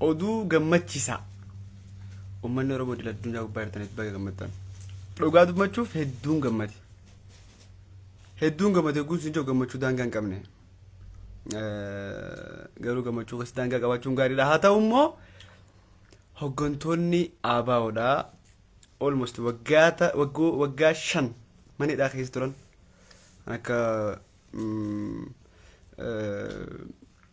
oduu gammachiisaa uummanni oromoo idil addunyaa gubbaa jirtanitti baga gammaddan dhugaa dubbachuuf hedduun gammade hedduun gammade guutuu hin jiru gammachuu daangaa hin qabne garuu gammachuu keessa daangaa qabaachuun gaariidha haa ta'u immoo hoggantoonni ABOdha almost waggaata waggoo waggaa shan manidhaa keessa turan akka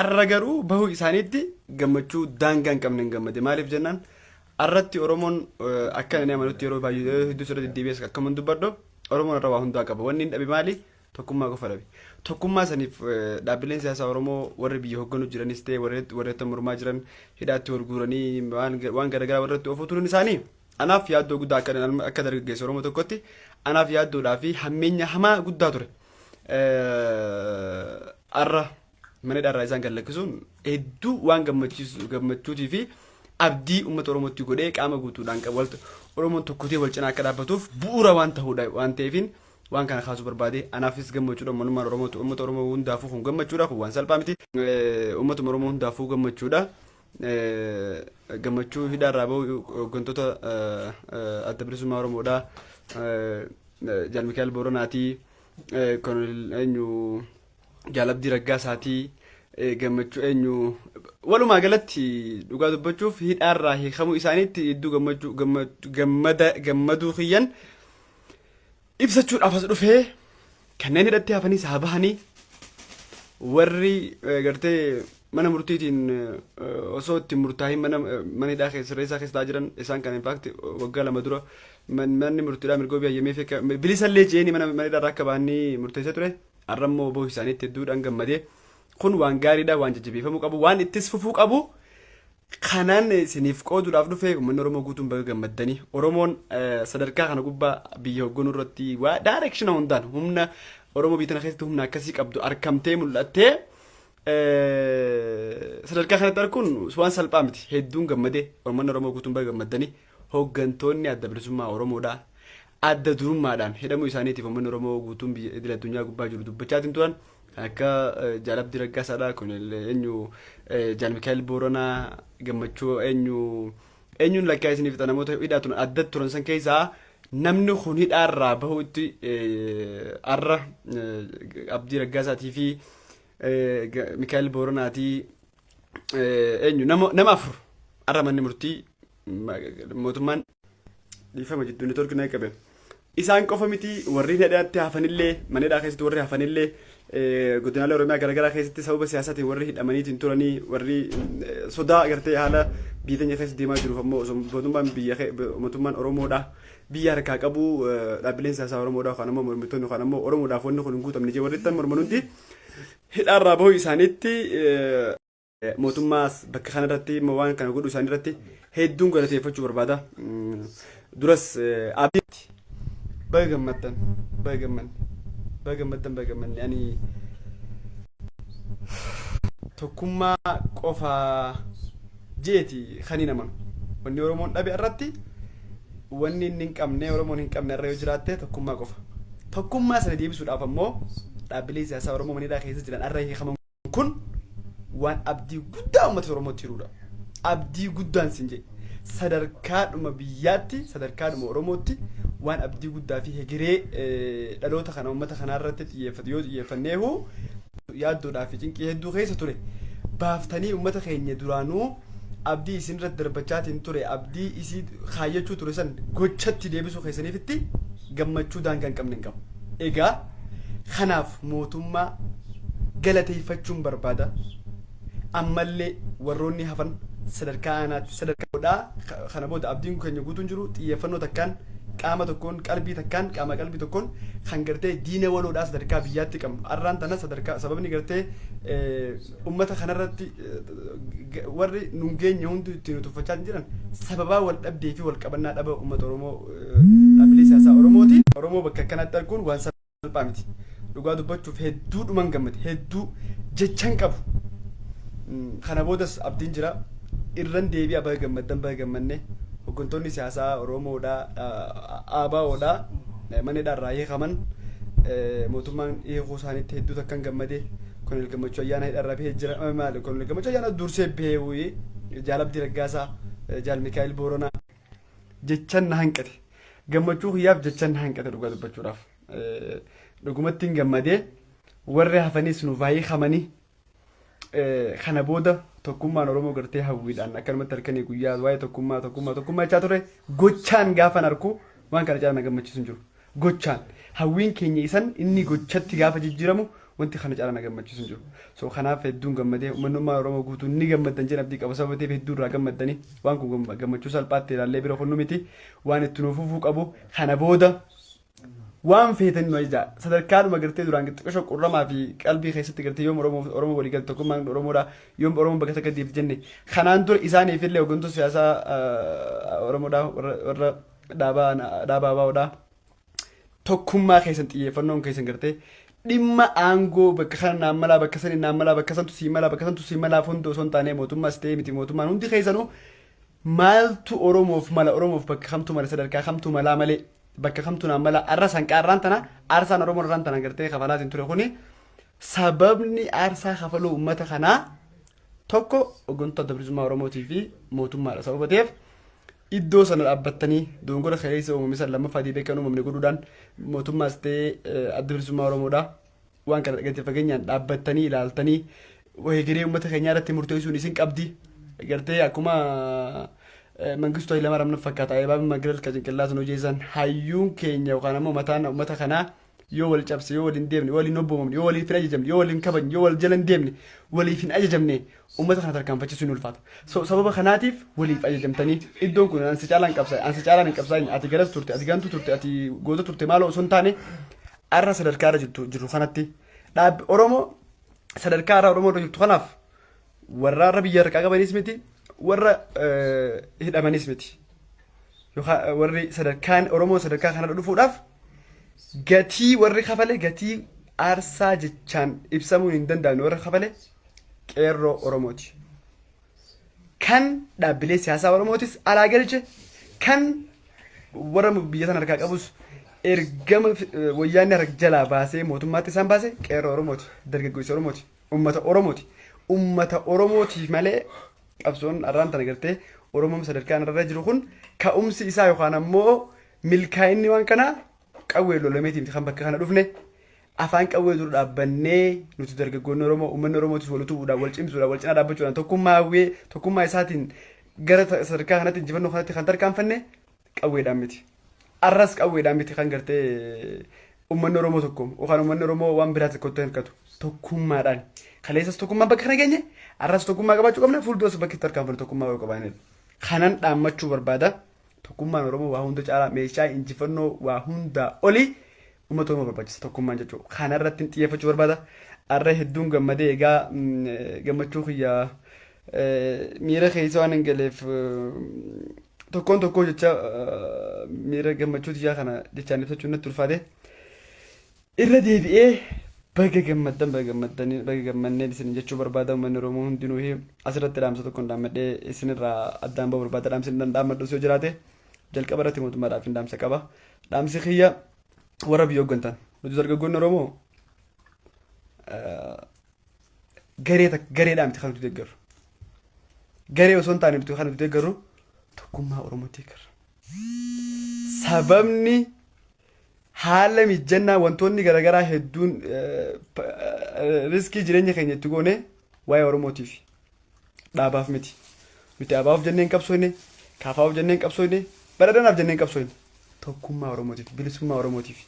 Arra garuu bahuu isaaniitti gammachuu daangaa hin qabne hin gammade. Maaliif jennaan arratti Oromoon akka inni amanutti yeroo baay'ee hedduu sirra deddeebi'es akkam hin dubbadhu Oromoon irra waa hundaa qaba. Wanni hin dhabe maali? Tokkummaa qofa dhabe. Tokkummaa saniif dhaabbileen siyaasaa Oromoo warri biyya hogganu jiranis ta'e warreetta mormaa jiran hidhaatti wal guuranii waan garaagaraa warratti ofuu turuun isaanii anaaf yaaddoo guddaa akka dargaggeessa Oromoo tokkotti anaaf yaaddoodhaa fi hammeenya hamaa guddaa ture. arra mana dharraa isaan kan lakkisuun hedduu waan gammachiisu gammachuutii fi abdii uummata Oromootti godhee qaama guutuudhaan qabu wal Oromoon tokkotee wal cinaa akka dhaabbatuuf bu'uura waan ta'uudha waan ta'eefiin waan kana kaasuu barbaade anaafis gammachuudha manummaan Oromootu uummata Oromoo hundaafuu kun gammachuudha kun waan salphaa miti uummatuma Oromoo hundaafuu gammachuudha gammachuu hidhaa irraa bahu hooggantoota adda bilisummaa Oromoodhaa Jaal Mikaa'el Booranaatii Kolonel eenyu Jaal Abdii Raggaasaatii gammachuu eenyu walumaa galatti dhugaa dubbachuuf hidhaa irraa hiikamuu isaaniitti hedduu gammachuu gammaduu kiyyan ibsachuudhaaf as dhufe kanneen hidhatti hafaniis haa bahanii warri eh, gartee mana murtiitiin eh, osoo itti murtaahin mana eh, mana hidhaa keessa sirreessaa keessa taa'aa jiran isaan kana infaakti waggaa lama dura man- manni murtiidhaa mirgoo biyyayyamee fi akka- bilisallee je'eenii mana mana hidhaa irraa akka bahanii murteessee ture har'a immoo oboo isaaniitti hedduudhaan gammadee kun waan gaariidha waan jajjabeeffamuu qabu waan ittis fufuu qabu Kanaan isiniif qooduudhaaf dhufe uummanni Oromoo guutuun baga gammaddanii Oromoon eh, sadarkaa kana gubbaa biyya hoogganuu irratti waa daayirekshina hundaan humna Oromoo biyya tana keessatti humna akkasii qabdu arkamtee mul'attee eh, sadarkaa kanatti arkuun waan salphaa miti hedduun gammadee uummanni Oromoo guutuun baga gammaddanii Hoggantoonni Adda Bilisummaa Oromoodhaa adda durummaadhaan hidhamuu isaaniitiif uummanni Oromoo guutuun biyya idil addunyaa gubbaa jiru dubbachaatiin turan. Kan akka Jaal Abdii Raggaasaadhaa, Koloneel eenyu Jaal Mikaa'el Booranaa, Gammachuu eenyu eenyuun lakkaa isinii fixa namoota hidhaa turan addatti turan san keessaa namni kun hidhaarraa bahuutti arra Abdii Raggaasaatii fi Mikaa'el Booranaatii eenyu nama afur har'a manni murtii mootummaan dhiifama jidduu network na qabe. Isaan qofa miti warri hidhaatti hafanillee mana hidhaa keessatti warri hafanillee godinaalee Oromiyaa garaagaraa keessatti sababa siyaasaatiin warri hidhamaniitiin turanii warri sodaa agartee haala biyya keenya keessa deemaa jiruuf ammoo osoo mootummaan biyya mootummaan Oromoodha biyya harkaa qabu dhaabbileen siyaasaa Oromoodha yookaan ammoo mormitoonni yookaan ammoo Oromoodhaaf wanni kun hin guutamne jee warri ittan morman hundi hidhaa irraa bahuu isaaniitti mootummaas bakka kana irratti immoo waan kana godhuu isaanii irratti hedduun galateeffachuu barbaada. Duras abdiitti baga gammaddan baga gammanne baga gammaddan baga gammanne ani tokkummaa qofa jeeti kan hin amanu. Wanni Oromoon dhabe irratti Wanni inni hin qabne, Oromoon hin qabne har'a yoo jiraatte tokkummaa qofa. Tokkummaa sana deebisuudhaaf ammoo dhaabbileen siyaasaa Oromoo mana hidhaa keessa jiran har'a hiikaman kun waan abdii guddaa uummata Oromootti hiruudha. Abdii guddaan sin jedhe. Sadarkaadhuma biyyaatti, sadarkaadhuma Oromootti waan abdii guddaa fi hegeree eh, dhaloota kana uummata kanaa irratti xiyyeeffatu yoo xiyyeeffanneehu yaaddoodhaa fi cinqii hedduu keessa ture baaftanii uummata keenya duraanuu abdii isin irratti darbachaatiin ture abdii isii kaayyachuu ture san gochatti deebisuu keessaniifitti gammachuu daangaa hin qabne hin qabu. Egaa kanaaf mootummaa galateeffachuun barbaada. Ammallee warroonni hafan sadarkaa aanaatti sadarkaa godhaa ka- kana booda abdiin keenya guutuun jiru xiyyeeffannoo takkaan qaama tokkoon qalbii takkaan qaama qalbii tokkoon kan gartee diina waloodhaa sadarkaa biyyaatti qabnu arraan tana sadarkaa sababni gartee eh, Ummata kanarratti warri nun geenye hunduu ittiin utuffachaa jiran sababaa wal dhabdee fi wal qabannaa dhaba ummata Oromoo dhaabbilee siyaasaa Oromooti. Oromoo bakka akkanatti arguun waan salphaa miti. Dhugaa dubbachuuf hedduu dhuman gammade hedduu jechan qabu. Kana boodas abdiin jira. Irran deebi'a baga gammaddan baga gammanne hoggantoonni siyaasaa Oromoodha ABOdha mana hidhaa irraa hiikaman mootummaan hiikuu isaaniitti hedduu takkan gammade. Kolonel Gammachuu Ayyaana hidharraa bahee jira. Eh, Maali Kolonel Gammachuu Ayyaana dursee bahee wuyii. Jaal Abdii Raggaasaa, eh, Jaal Mikaa'el Booranaa. Jechan na hanqate. Gammachuu kiyyaaf jechan na hanqate dhugaa dubbachuudhaaf. Eh, Dhugumatti hin gammadee warri hafanis nu baay'ee hamanii eh, kana booda tokkummaan Oromoo gartee hawwiidhaan akkanumatti halkanii guyyaa waa'ee tokkummaa tokkummaa tokkummaa jechaa ture gochaan gaafan arku waan kana caalaa na gammachiisu hin jiru. gochaan hawwiin keenya isan inni gochatti gaafa jijjiiramu wanti kana caalaa na gammachiisu hin jiru. So kanaaf hedduun gammadee uummanni ummaa Oromoo guutuun ni gammaddan jedhan abdii qaba sababa ta'eef hedduu irraa gammaddanii waan kun gam- gammachuu salphaatti ilaallee bira kunnu miti waan itti nuuf fufuu qabu kana booda waan feetan nu ajajaa sadarkaadhuma gartee duraan xiqqasho qurramaa fi qalbii keessatti gartee yoom oromoo oromoo walii galta tokkummaan oromoodha yoom oromoo bakka takka deemti jenne kanaan dura isaaniif illee hooggantoota siyaasaa ah, oromoodha warra warra dhaabaa dhaabaa baa'uudha. Tokkummaa keessan xiyyeeffannoon keessan gartee dhimma aangoo bakka kana naan malaa bakka sanii naan malaa bakka santu sii malaa bakka santu sii malaa hunda osoo hin taane mootummaa si ta'ee miti mootummaan hundi keessanuu maaltu Oromoof mala Oromoof bakka kamtu mala sadarkaa kamtu malaa malee bakka kamtu naan malaa arra sanqaa irraan tana aarsaan Oromoo irraan tana gartee kafalaatiin ture kuni sababni aarsaa kafaluu uummata kanaa tokko hooggantoota adda bilisummaa Oromootii fi mootummaadha sababa ta'eef iddoo sana dhaabbattanii dogongora kaleessa uumame san lammaffaa deebi'ee akka hin uumamne godhuudhaan mootummaas ta'ee eh, adda bilisummaa Oromoodha. Waan kana gadi fageenyaan dhaabbattanii ilaaltanii hegeree uummata keenyaa irratti murteessuun isin qabdi. Gartee akkuma eh, Mangistuu Hayilamaaraam nan fakkaata. Eebaabin Magireel ka cinqillaatu nu jeessan hayyuun keenya yookaan ammoo mataan uummata kanaa Yoo wal cabse, yoo wal hin deemne, wal hin obboomamne, yoo waliif hin ajajamne, yoo wal hin kabajne, yoo wal jala hin deemne, waliif hin ajajamne ummata kana tarkaanfachisuun ni ulfaata. So, sababa kanaatiif waliif ajajamtanii iddoon kun an si caalaan qabsaa'e, an si caalaan hin qabsaa'in, ati garas turte, ati gantuu turte, ati goota turte maaloo osoo hin taane arra sadarkaa irra jirtu jirru kanatti dhaabbi Oromoo sadarkaa irra Oromoo irra jirtu kanaaf Warra har'a biyya harkaa qabanis miti, warra hidhamanis miti. Yookaan warri sadarkaan Oromoon sadarkaa kanarra dhufuudhaaf gatii warri kafale gatii aarsaa jechaan ibsamuun hin danda'amne warra kafale qeerroo Oromooti. Kan dhaabbilee siyaasaa Oromootis alaa galche kan warra biyya sana harkaa qabus ergama wayyaanni harka jalaa baasee mootummaatti isaan baase qeerroo Oromooti dargaggoota Oromooti. Ummata Oromooti. Ummata Oromootiif malee qabsoon arraan tana gartee Oromoon sadarkaa irra jiru kun ka'umsi isaa yookaan ammoo milkaa'inni waan kanaa qawwee lolameetii miti kan bakka kana dhufne afaan qawwee dura dhaabbannee nuti dargaggoonni Oromoo uummanni Oromootis wal utubuudhaan wal cimsuudhaan wal cinaa dhaabbachuudhaan tokkummaa hawwee tokkummaa isaatiin gara sadarkaa kanatti injifannoo kanatti kan tarkaanfanne qawweedhaan miti. Arras qawweedhaan miti kan gartee uummanni Oromoo tokko yookaan uummanni Oromoo waan biraa tokkotti hirkatu tokkummaadhaan. Kaleessas tokkummaan bakka kana geenye arras tokkummaa qabaachuu qabna fuulduras bakki itti harkaan tokkummaa yoo qabaanidha. Kanan dhaammachuu barbaada tokkummaan Oromoo waa hunda caalaa meeshaa injifannoo waa hundaa olii uummata Oromoo barbaachisa tokkummaan jechuudha. Kanarratti xiyyeeffachuu barbaada. Arra hedduun gammadee egaa gammachuu kiyyaa miira keessa waan hin galeef tokkoon tokkoo jecha miira gammachuu tiyyaa kana jechaan ibsachuun natti ulfaate irra deebi'ee baga gammaddan baga gammaddan baga gammanneen isin jechuu barbaada uummanni Oromoo hundinuu asirratti dhaamsa tokko hin dhaammadhee isinirraa addaan ba'uu barbaada dhaamsi hin dhaammadhu osoo jiraate jalqaba irratti mootummaadhaaf hin dhaamsa qaba dhaamsi kiyya warra biyya hooggantan nuti dargaggoonni Oromoo garee tak- gareedhaa miti kan nuti deeggarru. Garee osoo hin taane nuti kan nuti deeggarru tokkummaa Oromoo deeggarra. Sababni haala mijjannaa wantoonni garaagaraa hedduun eh, pa- eh, riskii jireenya keenya itti goone waa'ee Oromootiif. Dhaabaaf miti. Nuti ABOf jennee hin qabsoofne, KFOf jennee hin qabsoofne, Badhaadhinaaf jennee hin qabsoofne. Tokkummaa Oromootiif, bilisummaa Oromootiif.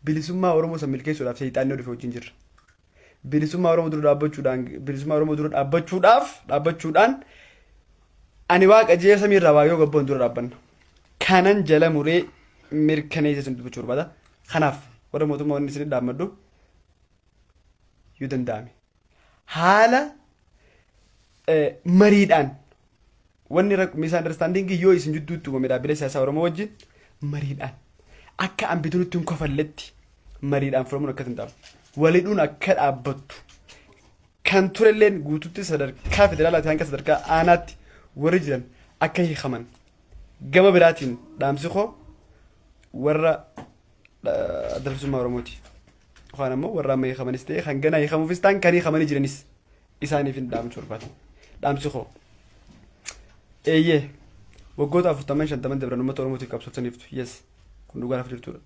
Bilisummaa Oromoo san milkeessuudhaaf seexaanni yoo dhufe wajjin jirra. Bilisummaa Oromoo dura dhaabbachuudhaan, bilisummaa Oromoo dura dhaabbachuudhaaf, dhaabbachuudhaan ani waaqa jee samii irraa waa yoo gabboon dura dhaabbanna. Kanan jala muree mirkaneessee sun dubbachuu barbaada. Kanaaf warra mootummaa wanni isin dhaammadhu yoo danda'ame haala eh, mariidhaan wanni rak- misunderstanding yoo isin jidduutti uumame dhaabbilee siyaasaa Oromoo wajjin mariidhaan akka ambituunitti hin kofalletti mariidhaan furamuun akka danda'amu walidhuun akka dhaabbattu kan turelleen guututti sadarkaa federaalaati hanga sadarkaa aanaatti warri jiran akka hiikaman gama biraatiin dhaamsi koo warra adda bilisummaa Oromooti. Yookaan ammoo warra amma hiikamanis ta'e kan ganaa hiikamuufis ta'an kan hiikamanii jiranis isaaniif hin dhaamsu barbaada. Dhaamsi koo. Eeyyee waggoota afurtaman shantaman dabran uummata Oromootiif qabsooftaniiftu. Yes kun dhugaa lafa jirtudha.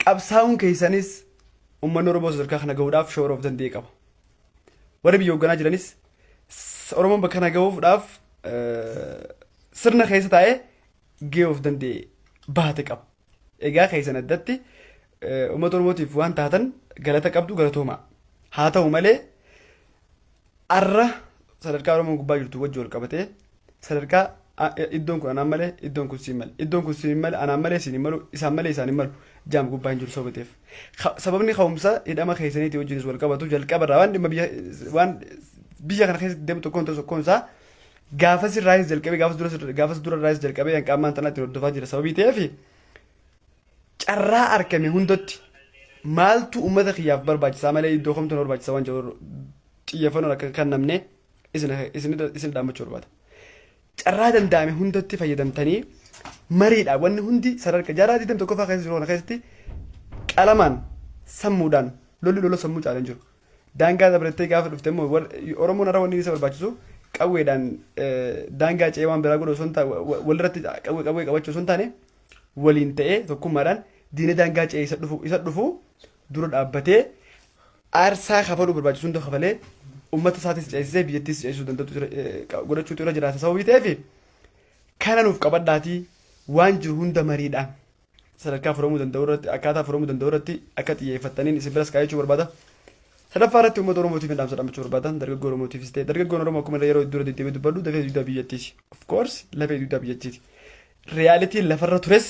Qabsaa'uun keessanis uummanni Oromoo sadarkaa kana gahuudhaaf shoora of danda'e qaba. Warri biyya hoogganaa jiranis s- Oromoon bakka kana gahuudhaaf eh, sirna keessa taa'ee gahee of danda'e bahate qaba. Egaa keessan addatti uummata Oromootiif waan taatan galata qabdu galatoomaa. Haa ta'u malee arra sadarkaa Oromoon gubbaa jirtu wajji wal qabatee sadarkaa iddoon kun anaan malee iddoon kun siin malee iddoon kun siin malee anaan malee siin hin malu isaan malee isaan hin malu jaam gubbaa hin jiru sababa ta'eef. Sababni ka'umsa hidhama keessaniitii wajjinis wal qabatu jalqaba irraa waan dhimma biyya waan biyya kana keessatti deemu tokkoon tokkoon isaa gaafas irraayis jalqabee gaafas dura gaafas dura irraayis jalqabee hanqa ammaan tanaatti hordofaa jira sababii ta'eef carraa argame hundatti maaltu uummata kiyyaaf barbaachisaa malee iddoo kamtu na barbaachisa waan jedhu xiyyeeffannoon akka kan namne isin isin isin dhaammachuu barbaada. Carraa danda'ame hundatti fayyadamtanii mariidha wanni hundi sadarkaa jaarraa 21 fa'aa keessa jiru kana keessatti qalamaan sammuudhaan lolli lola sammuu caalan jiru. Daangaa dabrettee gaafa dhufte immoo wal- Oromoon har'a wanni isa barbaachisu qawweedhaan eh, daangaa ce'ee waan biraa godhu osoo hin taane walirratti qawwee qawwee qabachuu osoo hin taane waliin ta'ee tokkummaadhaan diina daangaa ce'ee isa dhufu isa dhufu dura dhaabbatee aarsaa kafaluu barbaachisu hunda kafalee uummata isaatis ceesisee biyyattis ceesisuu danda'u jira- eh, qa- godhachuutu irra jiraata sababii ta'eef kana nuuf qabadhaatii waan jiru hunda mariidhaan sadarkaa furamuu danda'u irratti akkaataa furamuu danda'u irratti akka xiyyeeffattaniin isin biras kaayachuu barbaada. Sadaffaa irratti uummata Oromootiif hin dhaamsa dhaamachuu barbaada. Dargaggoo Oromootiifis ta'e dargaggoon Oromoo akkuma illee yeroo dura deddeebi'ee dubbadhu dafee dugdaa biyyattiiti. Of course lafee dugdaa biyyattiiti. Reyaalitiin lafarra tures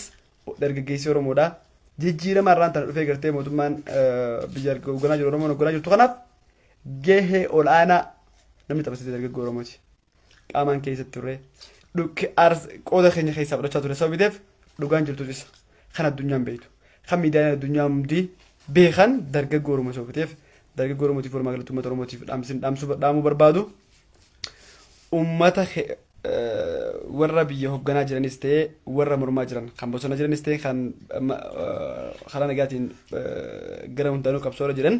dargaggeessi Oromoodha. Jijjiirama irraan tana dhufee gartee mootummaan biyya hoogganaa jiru Oromoon hoogganaa jirtu kanaaf gahee ol'aanaa namni taphatee dargaggoo Oromooti. qaamaan keessa turre dhukke aars qooda keenya keessaa fudhachaa ture sababii ta'eef dhugaan jirtu isa kan addunyaan beektu kan miidiyaan addunyaa hundi beekan dargaggoo Oromoo sababii ta'eef dargaggoo Oromootiif walumaa galatti uummata Oromootiif dhaamsin dhaamsuu dhaamuu barbaadu uummata ke- eh, warra biyya hoogganaa jiranis ta'e warra mormaa jiran kan bosona jiranis ta'e kan ma- eh, karaa nagaatiin eh, gara hundaanuu qabsoora jiran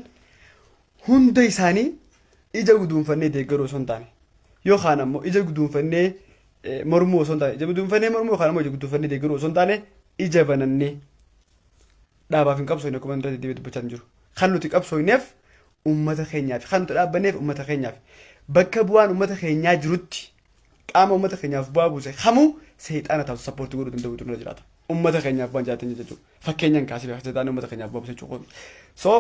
hunda isaanii ija guduunfannee deeggaruu osoo hin taane yookaan ammoo ija guduunfannee eh, mormuu osoo hin taane ija guduunfannee mormuu yookaan ammoo ija guduunfannee deeggaruu osoo hin taane ija banannee dhaabaaf hin qabsoofne akkuma irratti deebi'ee dubbachaa hin jiru. Kan nuti qabsoofneef uummata keenyaaf kan nuti dhaabbanneef uummata keenyaaf bakka bu'aan uummata keenyaa jirutti qaama uummata keenyaaf bu'aa buuse kamuu seexaana taatu sappoortii godhuu danda'u turre jiraata. Uummata keenyaaf waan jiraatan jechuudha. Fakkeenyaan kaasee seexaana uummata keenyaaf bu'aa buuse jechuudha. So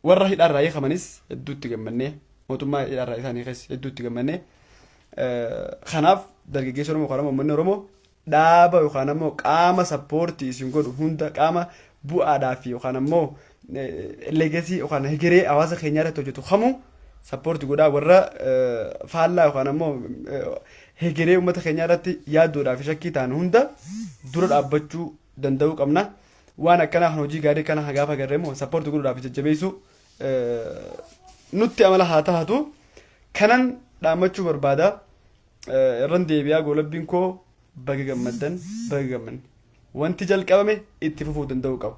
warra hidhaarraa hiikamanis hedduutti gammannee mootummaa hidhaarraa isaan hiikes hedduutti gammannee kanaaf dargaggeessa Oromoo yookaan ammoo uummanni Oromoo dhaaba yookaan ammoo qaama sappoortii isin godhu hunda qaama bu'aadhaa fi yookaan ammoo leegasii yookaan hegeree hawaasa keenyaa irratti hojjetu kamuu sappoorti godhaa warra faallaa yookaan ammoo hegeree uummata keenyaa irratti yaaduudhaa fi shakkii ta'an hunda dura dhaabbachuu danda'uu qabna. Waan akkanaa kan hojii gaarii kana gaafa agarre immoo support godhuudhaa fi jajjabeessuu nutti amala haa tahatu kanan dhaammachuu barbaada irran deebi'aa goolabbiin koo baga gammaddan baga gammanne wanti jalqabame itti fufuu danda'uu qaba.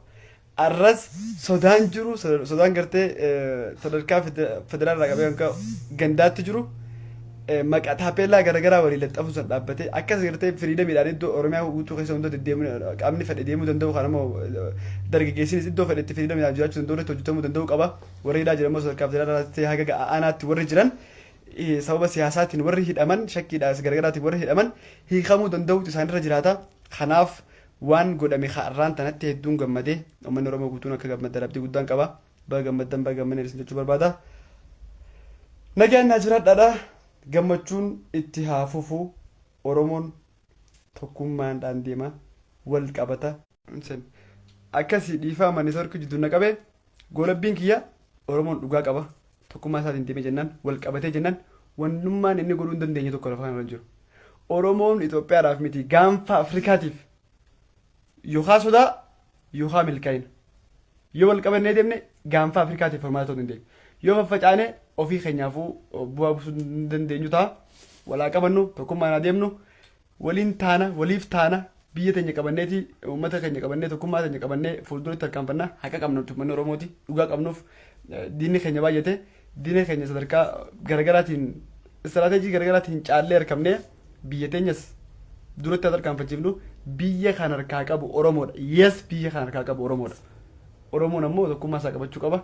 Arras sodaan jiru sodaan gartee sadarkaa federaalaa qabee hanga gandaatti jiru maqaa taapeellaa garagaraa walii laxxafuu san dhaabbatee akkas gartee firiidamiidhaan iddoo Oromiyaa guutuu keessa hunda deddeemuu qaamni fedhe deemuu danda'u kan ammoo dargaggeessinis iddoo fedhe itti firiidamiidhaan jiraachuu danda'u irratti hojjetamuu danda'u qaba warri hidhaa jiran immoo sadarkaa federaalaatti haga ga'a aanaatti warri jiran sababa siyaasaatiin warri hidhaman shakkiidhaas gargaraatiin warri hidhaman hiikamuu danda'uutu isaanirra jiraata kanaaf waan godhame har'aan tanatti hedduun gammadee uummanni Oromoo guutuun akka gammaddan abdii guddaan qaba. Baga gammaddan baga gammanne isin jechuu barbaada. Nagaan naa jiraadhaadha. Gammachuun itti haa fufu. Oromoon tokkummaadhaan deema. Wal qabata. Sen. Akkasi dhiifaama network jiddu na qabe. Goolabbiin kiyya Oromoon dhugaa qaba. Tokkummaa isaatiin deemee jennaan wal qabatee jennaan wannummaan inni godhuu hin dandeenye tokko lafa kanarra hin jiru. Oromoon Itoophiyaadhaaf miti gaanfa Afrikaatiif Yookaan sodaa yookaan milkaa'ina. Yoo wal qabannee deemne gaanfa Afrikaatiif furmaata ta'uu dandeenya. Yoo faffacaane ofii keenyaafuu bu'aa buusuu hin dandeenyu ta'a. Walaa qabannu tokkummaan haa deemnu. Waliin taana waliif taana biyya teenya qabanneeti uummata keenya qabannee tokkummaa teenya qabannee fuulduratti tarkaanfanna haqa qabna uummanni Oromooti dhugaa qabnuuf diinni keenya baay'ate. Diina keenya sadarkaa garagaraatiin istiraateejii garagaraatiin caallee harkafnee biyya teenyas duratti haa tarkaanfachiifnu biyya kan harkaa qabu Oromoodha. Yes biyya kan harkaa qabu Oromoodha. Oromoon ammoo tokkummaa isaa qabachuu qaba.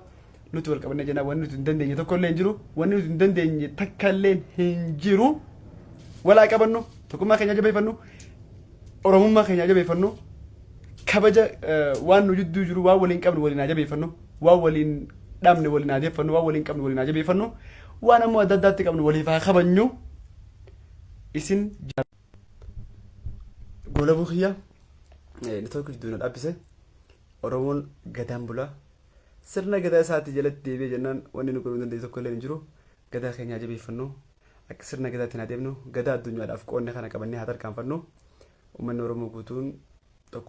Nuti wal qabannee jennaan wanni nuti hin dandeenye tokko illee hin jiru. Wanni nuti hin dandeenye takka illee hin jiru. Wal haa qabannu tokkummaa keenya jabeeffannu Oromummaa keenya jabeeffannu kabaja eh, waan nu jidduu jiru waan waliin qabnu waliin haa jabeeffannu. waan waliin dhabne waliin haa deeffannu waan waliin qabnu waliin haa jabeeffannu waan ammoo adda addaatti qabnu waliif haa kabajnu isin goolabuu kiyya network jidduu na dhaabbise oromoon gadaan bulaa sirna gadaa isaatti jalatti deebi'ee jennaan wanni nu godhuu danda'e tokko illee hin jiru gadaa keenya haa jabeeffannu akka sirna gadaatiin haa deemnu gadaa addunyaadhaaf qoodne kana qabannee haa tarkaanfannu uummanni oromoo guutuun tokkummaa